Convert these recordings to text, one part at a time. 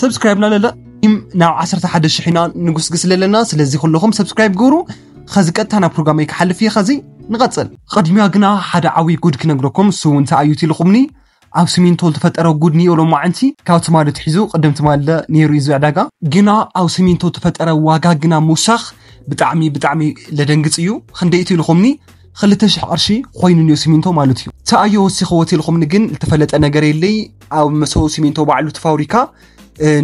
ሰብስክራይብ ናለለ ናብ 11 ሽሕ ኢና ንጉስግስ ኣለና ስለዚ ኩለኹም ሰብስክራይብ ግብሩ ኸዚ ቀጥታ ናብ ፕሮግራመይ ክሓልፍ እየ ኸዚ ንቐፅል ቐድሚያ ግና ሓደ ዓብዪ ጉድ ክነግረኩም እሱ እንታይ ኣዩት ኢልኹምኒ ኣብ ስሚንቶ ዝተፈጠረ ጉድ ንዮ ሎማዕንቲ ካብ ትማሊ ትሒዙ ቅድም ትማሊ ነይሩ እዩ ዕዳጋ ግና ኣብ ስሚንቶ ዝተፈጠረ ዋጋ ግና ምውሳኽ ብጣዕሚ ብጣዕሚ ለደንግፅ እዩ ክንደይ እቲ ኢልኹምኒ ክልተ ሽሕ ቅርሺ ኮይኑ ኒዮ ሲሚንቶ ማለት እዩ ተኣዮ ወሲኸዎ ቴልኹምኒ ግን ዝተፈለጠ ነገር የለይ ኣብ መሰው ሲሚንቶ ባዕሉ ትፋብሪካ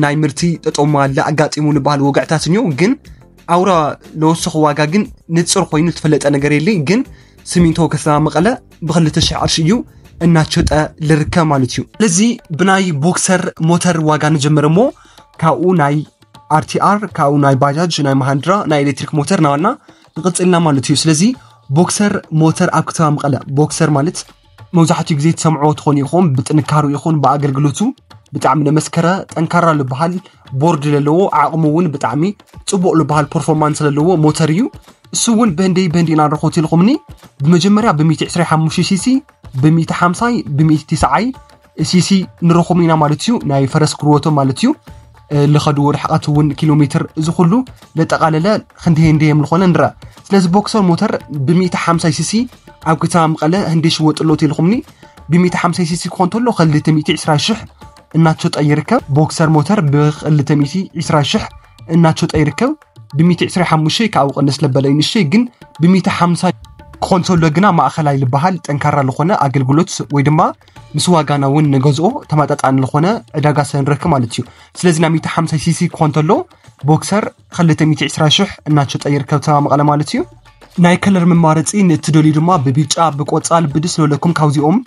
ናይ ምርቲ ጠጦማ ኣለ ኣጋጢሙ ንበሃል ወግዕታት እኒዮ ግን ኣውራ ለወሰኹ ዋጋ ግን ንፅር ኮይኑ ዝተፈለጠ ነገር የለይ ግን ሲሚንቶ ከተማ መቐለ ብክልተ ሽሕ ቅርሺ እዩ እናሸጠ ልርከ ማለት እዩ ስለዚ ብናይ ቦክሰር ሞተር ዋጋ ንጀመረ እሞ ካብኡ ናይ ኣርቲኣር ካብኡ ናይ ባጃጅ ናይ መሃንድራ ናይ ኤሌክትሪክ ሞተር ናዋና ንቕፅልና ማለት እዩ ስለዚ ቦክሰር ሞተር ኣብ ከተማ መቐለ ቦክሰር ማለት መብዛሕትኡ ግዜ ትሰምዕዎ ትኾኑ ኢኹም ብጥንካሩ ይኹን ብኣገልግሎቱ ብጣዕሚ ለመስከረ ጠንካራ ዝበሃል ቦርድ ዘለዎ ዓቕሙ እውን ብጣዕሚ ፅቡቕ ዝበሃል ፐርፎርማንስ ዘለዎ ሞተር እዩ እሱ እውን በንደይ በንዲ ኢና ንረኽቦ ኢልኩምኒ ብመጀመርያ ብ125 ሲሲ ብ150 ብ190 ሲሲ ንረኹም ኢና ማለት እዩ ናይ ፈረስ ክርወቶም ማለት እዩ ዝኸድዎ ርሕቀት እውን ኪሎ ሜትር እዚ ኩሉ ዘጠቓለለ ክንዲ ህንዲ እዮም ዝኾነ ንረኣ ስለዚ ቦክሰር ሞተር ብ150 ሲሲ ኣብ ከተማ መቐለ ህንዲ ይሽወጥሎ ቴልኹምኒ ብ150 ሲሲ ክኾን ተሎ 220 ሽሕ እናተሸጠ ይርከብ ቦክሰር ሞተር ብ220 ሽሕ እናተሸጠ ይርከብ ብ125 ካብኡ ቀንስ ለበለ ይንሸ ግን ብ150 ክኾን ተሎ ግና ማእኸላይ ዝበሃል ጠንካራ ዝኾነ ኣገልግሎት ወይ ድማ ምስ ዋጋና እውን ንገዝኦ ተመጣጣኒ ዝኾነ ዕዳጋ ስለ ንረክብ ማለት እዩ ስለዚ ናብ 150 ሲሲ ክኾን ተሎ ቦክሰር 220 ሽሕ እናሸጠ ይርከብ ተማ መቐለ ማለት እዩ ናይ ከለር መማረፂ ንእትደልዩ ድማ ብቢጫ ብቆፃል ብድስ ዝበለኩም ካብዚኦም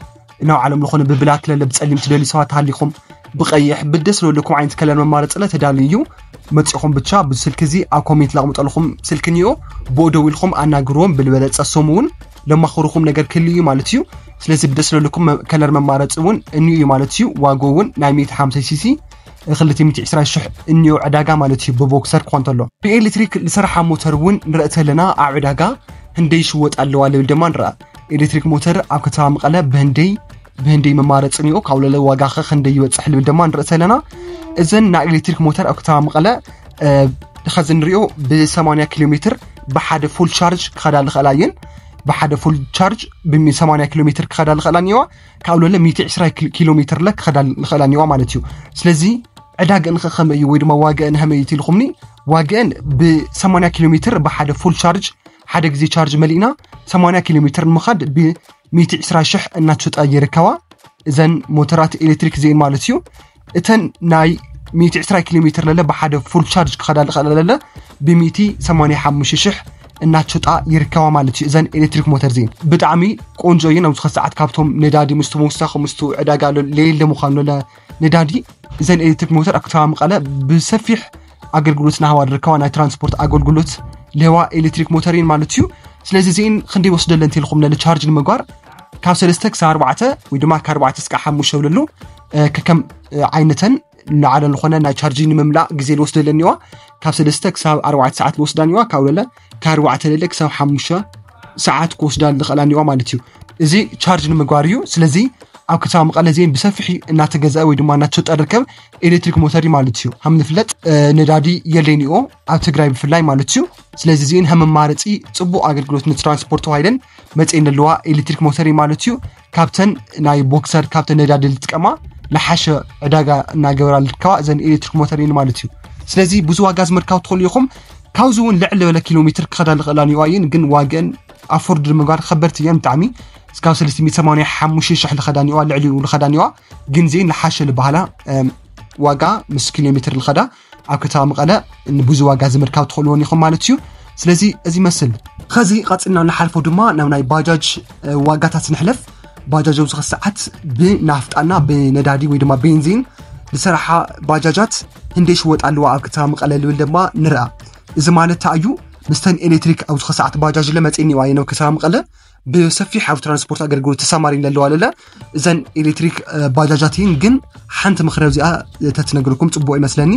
ናብ ዓለም ዝኾነ ብብላክ ለለ ብፀሊም ትደልዩ ሰባት ሃሊኹም ብቀይሕ ብደስ ዝበለኩም ዓይነት ከለር መማረፅለ ተዳልዩ እዩ መፂኹም ብቻ ብስልኪ እዚ ኣብ ኮሜንት ላቕምጠልኹም ስልኪ እኒኦ ብኡ ደዊልኹም ኣናግርዎም ብልበለፀ ሶም እውን ለማኽሩኹም ነገር ክህሉ እዩ ማለት እዩ ስለዚ ብደስ ለልኩም ከለር መማረፂ እውን እንዩ እዩ ማለት እዩ ዋጎ እውን ናይ 150 ሲሲ 220 ሽሕ እንዮ ዕዳጋ ማለት እዩ ብቦክሰር ክኾን ተሎ ብኤሌክትሪክ ዝሰርሓ ሞተር እውን ንርኢ ተለና ኣብ ዕዳጋ ህንደይ ይሽወጥ ኣለዋ ልብል ድማ ንርኣ ኤሌክትሪክ ሞተር ኣብ ከተማ መቐለ ብህንደይ ብህንደይ መማረፂ ኒኦ ካውለለ ዋጋ ከ ክንደይ ይበፅሕ ልብል ድማ ንርኢ ኣለና እዘን ናይ ኤሌክትሪክ ሞተር ኣብ ከተማ መቐለ ከዚ ንሪኦ ብ80 ኪሎ ሜትር ብሓደ ፉል ቻርጅ ክኸዳ ዝኽእላ እየን ብሓደ ፉል ቻርጅ ብ80 ኪሎ ሜትር ክኸዳ ዝኽእላ እኒዋ ካብ ለለ 120 ኪሎ ሜትር ለ ክኸዳ ዝኽእላ እኒዋ ማለት እዩ ስለዚ ዕዳገን ከ ከመይ እዩ ወይ ድማ ዋገአን ከመይ እዩ ትልኹምኒ ዋገአን ብ80 ኪሎ ሜትር ብሓደ ፉል ቻርጅ ሓደ ግዜ ቻርጅ መሊእና 80 ኪሎ ሜትር ንምኻድ ብ ሚእቲ ዕስራ ሽሕ እናተሸጣ ይርከባ እዘን ሞተራት ኤሌክትሪክ እዚአን ማለት እዩ እተን ናይ ሚእቲ ዕስራ ኪሎ ሜትር ለለ ብሓደ ፉል ቻርጅ ክኸዳ ዝኽእላ ለለ ብሚእቲ ሰማንያ ሓሙሽተ ሽሕ እናተሸጣ ይርከባ ማለት እዩ እዘን ኤሌክትሪክ ሞተር እዚን ብጣዕሚ ቆንጆ እየን ኣብዚ ኸ ሰዓት ካብቶም ነዳዲ ምስ ተወሳኺ ምስ ዕዳጋ ለየለ ምዃኑ ለለ ነዳዲ እዘን ኤሌክትሪክ ሞተር ኣብ ከተማ መቐለ ብሰፊሕ ኣገልግሎት ናሃባ ዝርከባ ናይ ትራንስፖርት ኣገልግሎት ልህዋ ኤሌክትሪክ ሞተር እየን ማለት እዩ ስለዚ እዚን ክንደይ ወስደለ እንተልኩም ለለ ቻርጅ ንምግባር ካብ ሰለስተ ክሳብ ኣርባዕተ ወይ ድማ ካብ ኣርባዕተ እስካ ሓሙሽተ ብለሉ ከከም ዓይነተን ንዓለ ዝኾነ ናይ ቻርጅ ንምምላእ ግዜ ዝወስደለን እዋ ካብ ሰለስተ ክሳብ ኣርባዕተ ሰዓት ዝወስዳን እዋ ካብ ለለ ካብ ኣርባዕተ ለለ ክሳብ ሓሙሽተ ሰዓት ክወስዳ ዝኽእላን እዋ ማለት እዩ እዚ ቻርጅ ንምግባር እዩ ስለዚ ኣብ ከተማ መቐለ ዜን ብሰፊሕ እናተገዝአ ወይ ድማ እናተሸጠ ርከብ ኤሌክትሪክ ሞተር ማለት እዩ ከም ዝፍለጥ ነዳዲ የለይን እዩ ኣብ ትግራይ ብፍላይ ማለት እዩ ስለዚ እዚን ከም መማረፂ ፅቡቅ ኣገልግሎት ንትራንስፖርት ተዋሂደን መፅኤን ዘለዋ ኤሌክትሪክ ሞተር እዩ ማለት እዩ ካብተን ናይ ቦክሰር ካብተን ነዳዲ ዝጥቀማ ንሓሸ ዕዳጋ እናገበራ ልርከባ እዘን ኤሌክትሪክ ሞተር እየን ማለት እዩ ስለዚ ብዙ ዋጋ ዝመርካብ ትኽእሉ ኢኹም ካብዚ እውን ልዕሊ ዝበለ ኪሎ ሜትር ክኸዳ ዝኽእላ ኒዋ እየን ግን ዋገን ኣፎርድ ንምግባር ከበድቲ እየን ብጣዕሚ እስካብ 385 ሽሕ ልኸዳኒዋ ልዕሊኡ ልኸዳኒዋ ግን ዚን ልሓሸ ልበሃላ ዋጋ ምስ ኪሎ ሜትር ልኸዳ ኣብ ከተማ መቐለ ንብዙ ዋጋ ዝምርካብ ትኽእልዎን ኢኹም ማለት እዩ ስለዚ እዚ ይመስል ከዚ ቀፅልና ንሓልፎ ድማ ናብ ናይ ባጃጅ ዋጋታት ንሕለፍ ባጃጅ ኣብዚ ሰዓት ብናፍጣና ብነዳዲ ወይ ድማ ቤንዚን ዝሰራሓ ባጃጃት ህንደይ ሽወጥ ኣለዋ ኣብ ከተማ መቐለ ልብል ድማ ንርኣ እዚ ማለት እዩ ምስተን ኤሌክትሪክ ኣብ ዝኸሰዓት ባጃጅ ለ መፂእኒዋ የነው ከተማ መቐለ ብሰፊሕ ኣብ ትራንስፖርት ኣገልግሎት ተሳማሪን ለለዋ ለለ እዘን ኤሌክትሪክ ባጃጃትን ግን ሓንቲ ምክረ ዚኣ ተትነግርኩም ፅቡቅ ይመስለኒ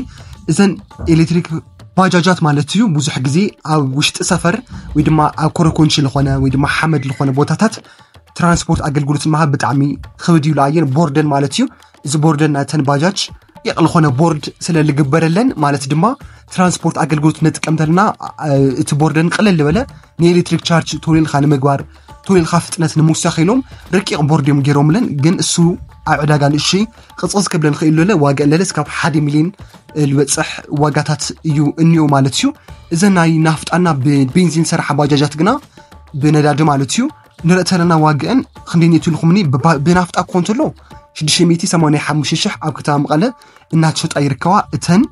እዘን ኤሌክትሪክ ባጃጃት ማለት እዩ ብዙሕ ግዜ ኣብ ውሽጢ ሰፈር ወይ ድማ ኣብ ኮረኮንቺ ዝኾነ ወይ ድማ ሓመድ ዝኾነ ቦታታት ትራንስፖርት ኣገልግሎት መሃብ ብጣዕሚ ክብድ ይብላ እየን ቦርደን ማለት እዩ እዚ ቦርደን ናተን ባጃጅ የቕል ኾነ ቦርድ ስለ ልግበረለን ማለት ድማ ትራንስፖርት ኣገልግሎት ነጥቀም ተለና እቲ ቦርደን ቅልል ዝበለ ንኤሌክትሪክ ቻርጅ ቶሌልካ ንምግባር ቶሌልካ ፍጥነት ንምውሳኽ ኢሎም ረቂቕ ቦርድ እዮም ገይሮምለን ግን እሱ ኣብ ዕዳጋ ንእሽይ ቅፅቕፅ ክብለን ክእል ለለ ዋጋ ለለ እስካብ ሓደ ሚሊዮን ዝበፅሕ ዋጋታት እዩ እኒኦ ማለት እዩ እዘ ናይ ናፍጣና ብቤንዚን ዝሰርሓ ባጃጃት ግና ብነዳዲ ማለት እዩ ንርእተርን ኣዋግዕን ክንደይ ንእቱ ኢልኹምኒ ብናፍጣ እኮ እንተሎ 685 ሽሕ ኣብ ከተማ መቐለ እናተሸጣ ይርከባ እተን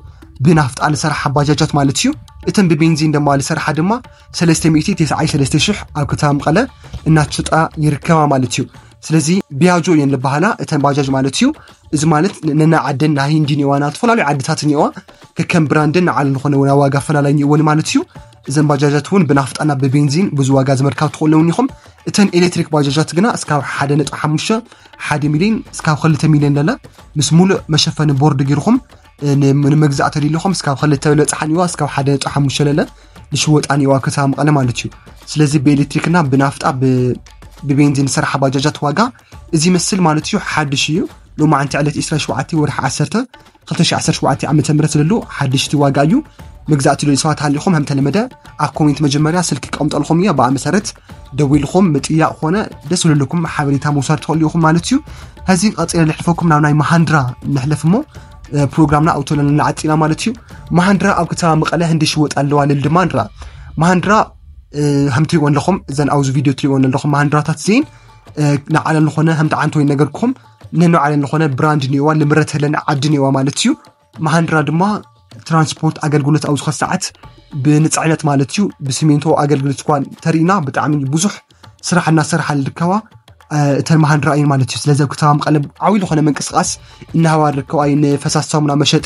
ብናፍጣ ዝሰርሓ ባጃጃት ማለት እዩ እተን ብቤንዚን ድማ ዝሰርሓ ድማ 393 ሽሕ ኣብ ከተማ መቐለ እናተሸጣ ይርከባ ማለት እዩ ስለዚ ቢያጆ እየን ዝበሃላ እተን ባጃጅ ማለት እዩ እዚ ማለት ነና ዓደን ናይ ሂንዲን እዋ ናብ ዝተፈላለዩ ዓድታት እኒዋ ከከም ብራንደን ንዓለም ዝኾነ ዋጋ ኣፈላላይ እኒኦወን ማለት እዩ እዘን ባጃጃት እውን ብናፍጣ ናብ ብቤንዚን ብዙ ዋጋ ዝመርካብ ትኽእለውን ኢኹም እተን ኤሌክትሪክ ባጃጃት ግና እስካብ ሓደ ነጥ ሓሙሽተ ሓደ ሚሊዮን እስካብ ክልተ ሚሊዮን ለለ ምስ ሙሉእ መሸፈኒ ቦርድ ጌርኹም ንመግዛእ ተደሊኹም እስካብ ክልተ ለፅሓን ይዋ እስካብ ሓደ ነጥ ሓሙሽተ ለለ ንሽወጣን ይዋ ከተማ መቐለ ማለት እዩ ስለዚ ብኤሌክትሪክና ብናፍጣ ብቤንዚን ዝሰርሓ ባጃጃት ዋጋ እዚ ይመስል ማለት እዩ ሓድሽ እዩ ሎማዓንቲ ዕለት 27 ወርሒ 10 2017 ዓመተ ምህረት ስለሉ ሓድሽቲ ዋጋ እዩ መግዛእቲ ልዩ ሰባት ሃሊኹም ከም ተለመደ ኣብ ኮሜንት መጀመርያ ስልኪ ቀምጠልኩም እያ ብኣ መሰረት ደዊልኹም ምጥያቕ ኮነ ደስ ዝልልኩም ሓበሬታ ምውሳድ ትኽእሉ ኢኹም ማለት እዩ ሕዚ ቀፂለ ንሕልፈኩም ናብ ናይ መሃንድራ ንሕለፍ እሞ ፕሮግራምና ኣብቶ ለለና ዓፂና ማለት እዩ መሃንድራ ኣብ ከተማ መቐለ ህንዲ ሽወጥ ኣለዋ ልል ድማ ንራ መሃንድራ ከም ትሪእዎን ኣለኹም እዘን ኣብዚ ቪድዮ ትሪእዎን ኣለኹም መሃንድራታት እዚን ንዓለም ዝኾነ ከም ተዓንቶ ይነገርኩም ነንባዕለን ዝኾነ ብራንድ እኒኦዋ ንምረተለን ዓዲ እኒኦዋ ማለት እዩ መሃንድራ ድማ ትራንስፖርት ኣገልግሎት ኣብ ዝኾነ ሰዓት ብንፅዕነት ማለት እዩ ብስሚንቶ ኣገልግሎት እኳ ተርእና ብጣዕሚ ብዙሕ ስራሕ እናሰርሓ ዝርከባ እተን መሃንድራ እየን ማለት እዩ ስለዚ ኣብ ከተማ መቐለ ዓብዪ ዝኾነ ምንቅስቃስ እናሃባ ዝርከባ እየን ፈሳሲ ሳሙና መሸጢ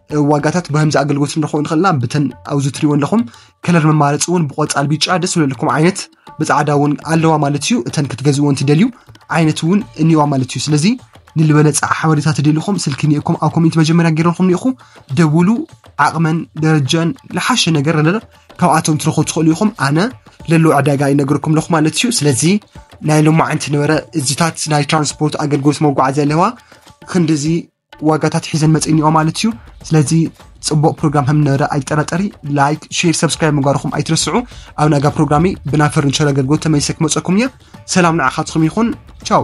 ዋጋታት ብከምዚ ኣገልግሎት ንረክቦ ንክእልና ብተን ኣብዚ ትሪእዎ ኣለኹም ከለር መማረፂ እውን ብቆፃል ቢጫ ደስ ዝብለኩም ዓይነት ብፃዕዳ እውን ኣለዋ ማለት እዩ እተን ክትገዝዎ እንትደልዩ ዓይነት እውን እኒዋ ማለት እዩ ስለዚ ንልበለፀ ሓበሬታ ትደልኹም ስልኪ ኒእኩም ኣብ ኮሚኒቲ መጀመርያ ገይረልኩም ኒኢኹ ደውሉ ዓቕመን ደረጃን ዝሓሸ ነገር ኣለለ ካብኣቶም ትረኹ ትኽእሉ ኢኹም ኣነ ለሎ ዕዳጋ ይነገርኩም ኣለኹ ማለት እዩ ስለዚ ናይ ሎማዓንቲ ነበረ እዚታት ናይ ትራንስፖርት ኣገልግሎት መጓዓዝያ ኣለዋ ክንዲዚ ዋጋታት ሒዘን መፅእኒኦ ማለት እዩ ስለዚ ፅቡቅ ፕሮግራም ከም ንረ ኣይጠራጠሪ ላይክ ሼር ሰብስክራይብ ምግባርኩም ኣይትረስዑ ኣብ ናጋ ፕሮግራሚ ብና ፈርኒቸር ኣገልግሎት ተመሊሰ ክመፀኩም እየ ሰላም ንዓኻትኩም ይኹን ቻው